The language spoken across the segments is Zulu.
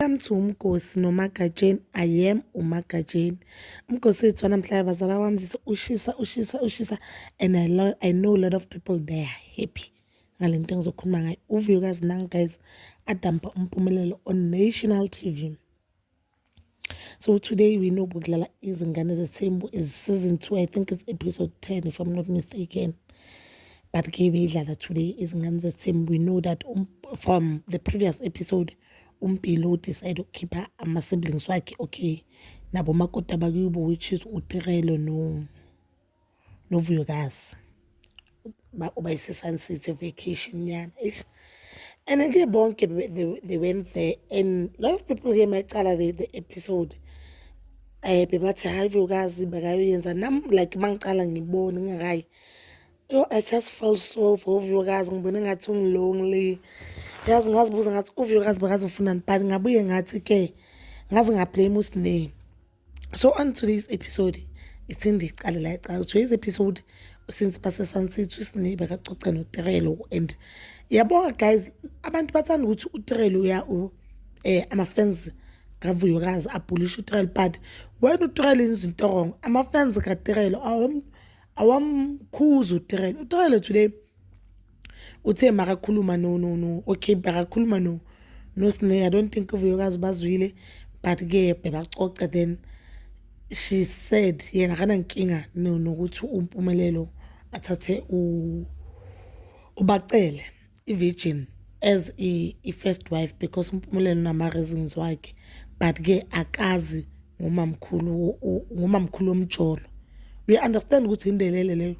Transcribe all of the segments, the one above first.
Welcome to uMgosi noMagatsheni. I am uMagatsheni. Umgosi wethu namhlanje bazala wami zithi ushisa ushisa ushisa and I, lo I know a lot of people they are happy ngale nto engizokhuluma ngayo. Uvuyokazi nangu guys adampa umpumelelo on national TV. So today we know kudlala izingane zethembu is season 2 I think it's episode 10 if I'm not mistaken. But ke beyidlala today izingane zethembu we know that um, from the previous episode umpilo udecide ukukhipha ama-siblings wakhe okay nabo makoti abakubo which is utirelo no novuyokazi uba ise-sun city vacation nyana eish and ke bonke they, they went there and a lot of people ke macala the, the episode um bebathi hhayi vuyokazi bakayoyenza nam like uma ngicala ngibone ngingakayi Yo, I just felt so for uVyokazi ngibone ngathi ungilonely. Yazi ngazibuza ngathi uVyokazi bakazi ufunani but ngabuye ngathi ke ngazi ngablame uSine. So on today's episode it's in the Calila Cal. Today's episode since Pastor Sunset uSine bekacoca noTerelo and yabonga guys abantu bathanda ukuthi uTerelo uya u eh ama fans kaVuyokazi abhulisha uTerelo but wena uTerelo izinto wrong ama fans kaTerelo awom awamkhuza utrele utrele today uthe makakhuluma no no no okay bakakhuluma no no sne i don't think uvuyokazi bazwile but ke bebacoce then she said yena akanankinga no nokuthi umpumelelo athathe u ubacele i-virgin as i-first wife because uMpumelelo unama-reasons wakhe but-ke akazi ngumamkhulu ngumamkhulu womjolo uya-understand ukuthi indelele leyo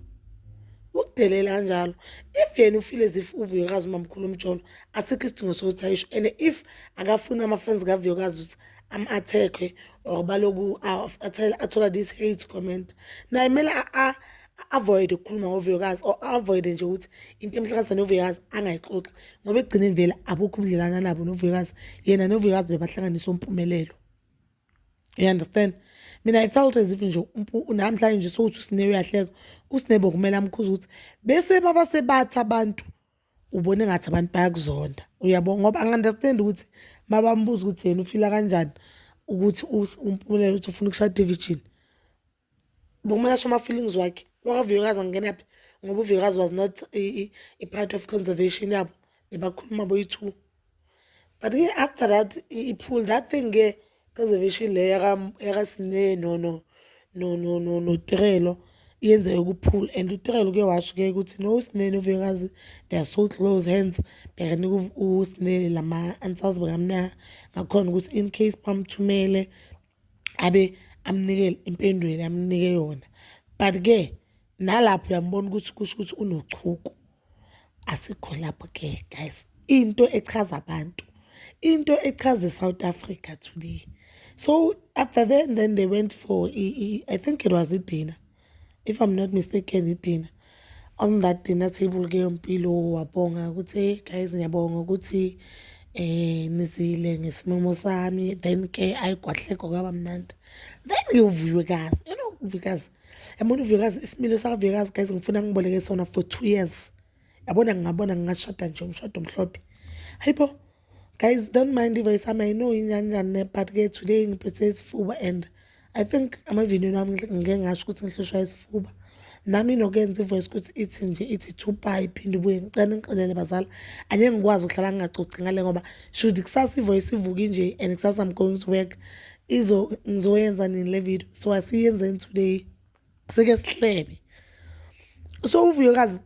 ukudelela kanjalo if yena ufile as if uvuyokazi umamkhulu umjolo asikho isidingo sokuthi ayisho and if akafuni ama-fans kavuyokazi ukuthi am-attack-we or baloku athole this hate comment naye kumele a-avoide ukukhuluma ngovuyokazi or a-avoide nje ukuthi into emhlanganisa novuyokazi angayixoxi ngoba ekugcineni vele abukho ubudlelana nabo novuyokazi yena novuyokazi bebahlanganisa umpumelelo you understand mina i felt as if nje namhlanje nje sokuthi usine uyahleka usine bokumele amkhuza ukuthi bese mabasebathi abantu ubone ngathi abantu bayakuzonda uyabo ngoba angi-understand ukuthi mabambuza ukuthi yena ufila kanjani ukuthi umpumelelo ukuthi ufuna ukushada evirgin Bokumolasha ama-feelings wakhe wakavuyokazi angenaphi ngoba uvuyokazi was not i-part of conservation yabo bebakhuluma boyi-two but ke after that i-pool that thing ke conservation le yakasine no no no no no notirelo yenzeke kuphula and utirelo uke washo ke ukuthi no usinene uvuyokazi they are so close hands bhekani usinene lama-answers bakamnaa ngakhona ukuthi in case bamthumele abe amnike impendulo amnike yona but-ke nalapho uyambona ukuthi kusho ukuthi unochuku asikho lapho-ke guys into echaza abantu into echaza i-south africa today so after then then they went for i think it was idina if i'm not mistaken idina on that dinner table ke yompilo wabonga ukuthi hey guys ngiyabonga ukuthi eh nizile ngesimemo sami then ke ayigwahleko kwaba mnandi then ngiwuviwe kazi you know uvikazi yabona uvikazi isimilo sakavikazi guys ngifuna ngiboleke sona for two years yabona ngingabona ngingashada nje umshado omhlophe hayibo guys don't mind if i some i know inyanjani but ke today ngiphethe isifuba and i think amavideo nami ngike ngasho ukuthi ngihlushwa isifuba nami nokenza ivoice ukuthi ithi nje ithi two pi phinde ubuye ngicela ngixolele bazala anye ngikwazi ukuhlala ngingacoci ngale ngoba should kusasa ivoice ivuke nje and kusasa i'm going to work izo ngizoyenza nini le video so asiyenzeni today sike sihlebe so uvuyokazi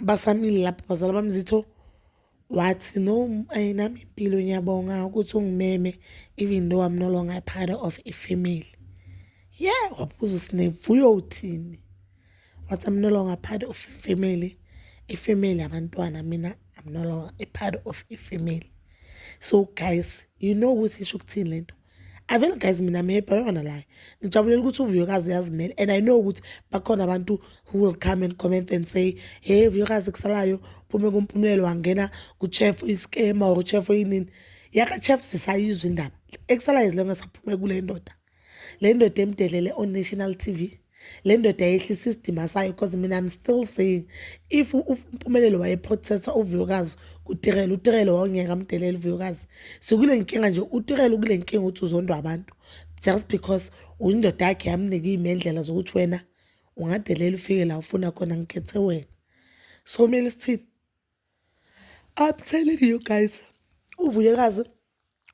basamile lapho bazala bamzitho wathi no ayinami impilo ngiyabonga ukuthi ungimeme even though i'm no longer a part of a family yeah wabuza sinevuyo uthini wathi i'm no longer part of a family a family abantwana mina i'm no longer a part of a family so guys you know ukuthi isho ukuthini lento I feel guys mina I'm happy, I don't wanna lie. Ngijabulela ukuthi uVuyokazi uyazimela and I know ukuthi bakhona abantu who will come and comment and say, "Hey Vuyokazi kusalayo phume kumpumlelo wangena kuchef iscam or chef yini." Yaka chef sisayizwa indaba. Ekusalayo izilenge saphume kule ndoda. Le ndoda emdelele on national TV. le ndoda yehlisa isidima sayo because mina i'm still saying if umpumelelo wayeprothetha uvuyokazi kutirele utirele wawungeka amdelela uvuyokazi sikule nkinga nje utirele ukule nkinga ukuthi uzondwa abantu just because uyindoda yakhe yamnika iy'mendlela zokuthi wena ungadelela ufike la ufuna khona ngikhethe wena so kumele sithini I'm telling you guys, uVuyekazi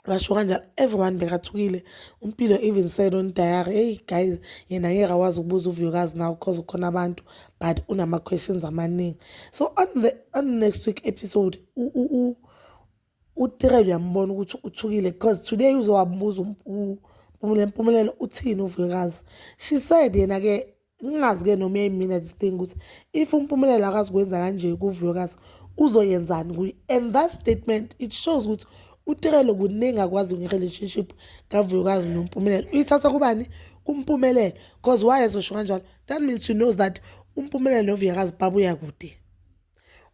washo kanjalo everyone bekathukile umpilo even said on diary hey guys yena ngeke akwazi ukubuza uvuyokazi nawo because ukhona abantu but unama-questions amaningi so on the, on the next week episode utirel uyambona ukuthi uthukile because today uzowabuza um, umpumelelo uthini uvuyokazi she said yena-ke ngingazi-ke noma uyayimina this thing ukuthi if umpumelelo akazikwenza kanje kuvuyokazi uzoyenzani kuye and that statement it shows ukuthi uterelo kuningi akwazi nge-relationship kavuyokazi nompumelelo uyithatha kubani kumpumelelo because why ezosho kanjalo that means she knows that umpumelelo novuyakazi babuya kude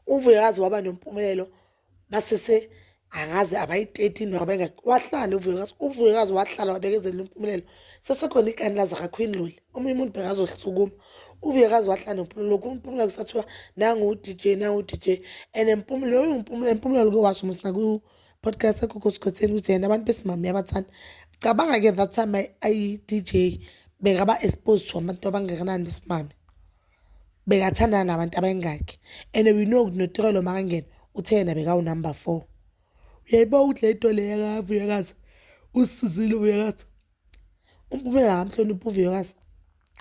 uvuyakazi waba nompumelelo basese angazi abayi-13 noma abangaki wahlala uvuyekazi uvuyekazi wahlala wabekezelela impumelelo sesekhona ikani lazakakhwini loli omunye umuntu bekazohlisukuma uvuyekazi wahlala nempumulelo kumpumela kusathiwa nangu-d j nangu-d j and empumulelo loyo mpumulelo impumulelo ke washo musi naku-podcast ekhokhosikhosini ukuthi yena abantu besimame uyabathanda cabanga-ke that time ayi-d j bekaba exposed to abantu abangakanani besimame bekathandana nabantu abayingakhi and we know ukuthi noTirelo makangena uthe yena bekawunumber four uyayibona ukuthi le nto le yakavuyokazi usizile uvuyokazi umpumela akamhloniphi uvuyokazi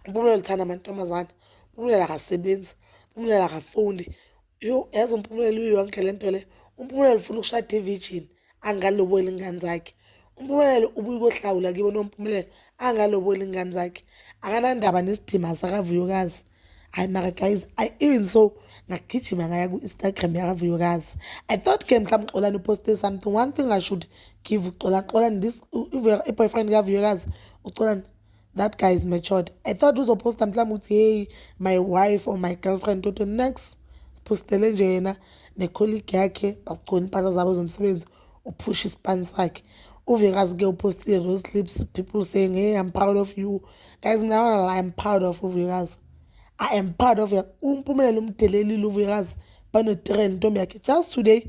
umpumela uthanda amantombazane umpumela akasebenzi umpumela akafundi Yho yazi uMpumelelo uyonke le nto le. UMpumelelo ufuna ukushada i-virgin angaloboli ingane zakhe. UMpumelelo ubuye kohlawula kibo noMpumelelo angaloboli ingane zakhe. Akanandaba nesidima sakaVuyokazi. Hayi mara guys, I even so ngagijima ngaya ku-Instagram yakaVuyokazi. I thought ke mhlawumbe uXolani uposte something. One thing I should give uXolani, Xolani this i-boyfriend kaVuyokazi uXolani that guy is matured i thought uzoposta mhlawumbe ukuthi hey my wife or my girlfriend toto next siphostele nje yena necolleague yakhe basigcona impahla zabo zomsebenzi uphusha isipani sakhe uvekazi ke upostile those clips people saying hey i'm proud of you guys mina wala i'm proud of uvekazi i am proud of umpumelelo umdelelile uvekazi banotirela intombi yakhe just today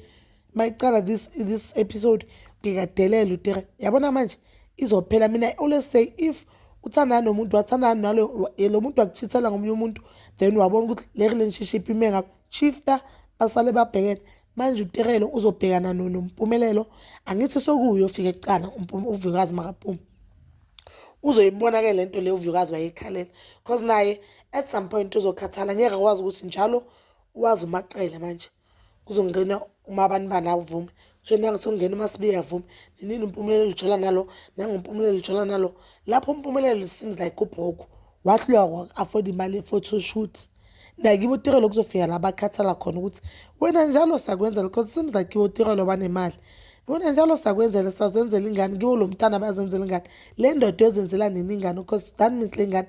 mayiqala this this episode ngikadelela utere yabona manje izophela mina i always say if uthandana nomuntu wathandana nalo eh, lo muntu wakuchithela ngomunye umuntu then wabona ukuthi le relationship ime ngapha shifta basale babhekene manje uterelo uzobhekana nompumelelo angithi sokuyo ofika ekucala uvikazi makaphuma uzoyibona ke lento le uvikazi wayekhalela because naye at some point uzokhathala ngeke akwazi ukuthi njalo wazi umaqele manje kuzongena umabanibani avume so nangisongena umasibiya avume ninini umpumelelo lijola nalo nangumpumelelo lijola nalo lapho umpumelelo seems like ubhoku wahlulwa afford imali ye-photoshoot nakibo utirelo kuzofika la bakhathala khona ukuthi wena njalo sakwenza lokho seems like kibo utirelo banemali wena njalo sakwenzela sazenzela ingane kiwo lo mntana bazenzela ingane le ndoda yozenzela nini ingane because that means le ngane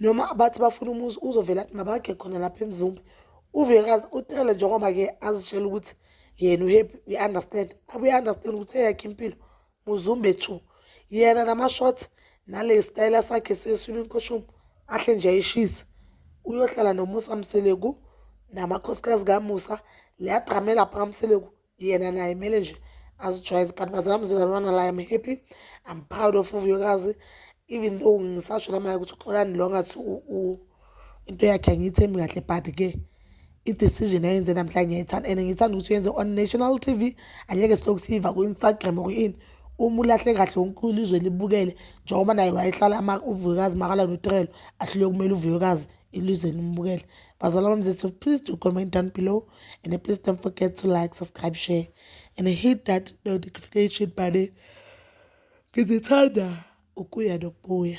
noma bathi bafuna umuzi uzovela athi mabakhe khona lapha emzumbe uvekazi utekele njengoba-ke azitshela ukuthi yena uhappy uyi-understand abuye understand ukuthi eyakhe impilo muzumbe two yena nama-short nale sitayela sakhe seswimming costume ahle nje ayishise uyohlala nomusa mseleku namakhosikazi kamusa leyadramela phakamseleku yena naye kumele nje azijwayeze but bazala mzukwane wana la am happy i'm proud of uvuyokazi even though ngisasho namaye ukuthi uxolani lo ngathi into yakhe angiyithembi kahle but ke i-decision ayenze namhlanje ngiyayithanda and ngithanda ukuthi uyenze on national t v angeke silokhu siyiva ku-instagram kuyini uma ulahle kahle wonke ilizwe libukele njengoba naye wayehlala uvuyokazi makala notirelo ahlule kumele uvuyokazi ilizwe limbukele bazalwa bami zethu please do comment down below and please don't forget to like subscribe share and hit that notification button ngizithanda ukuya nokubuya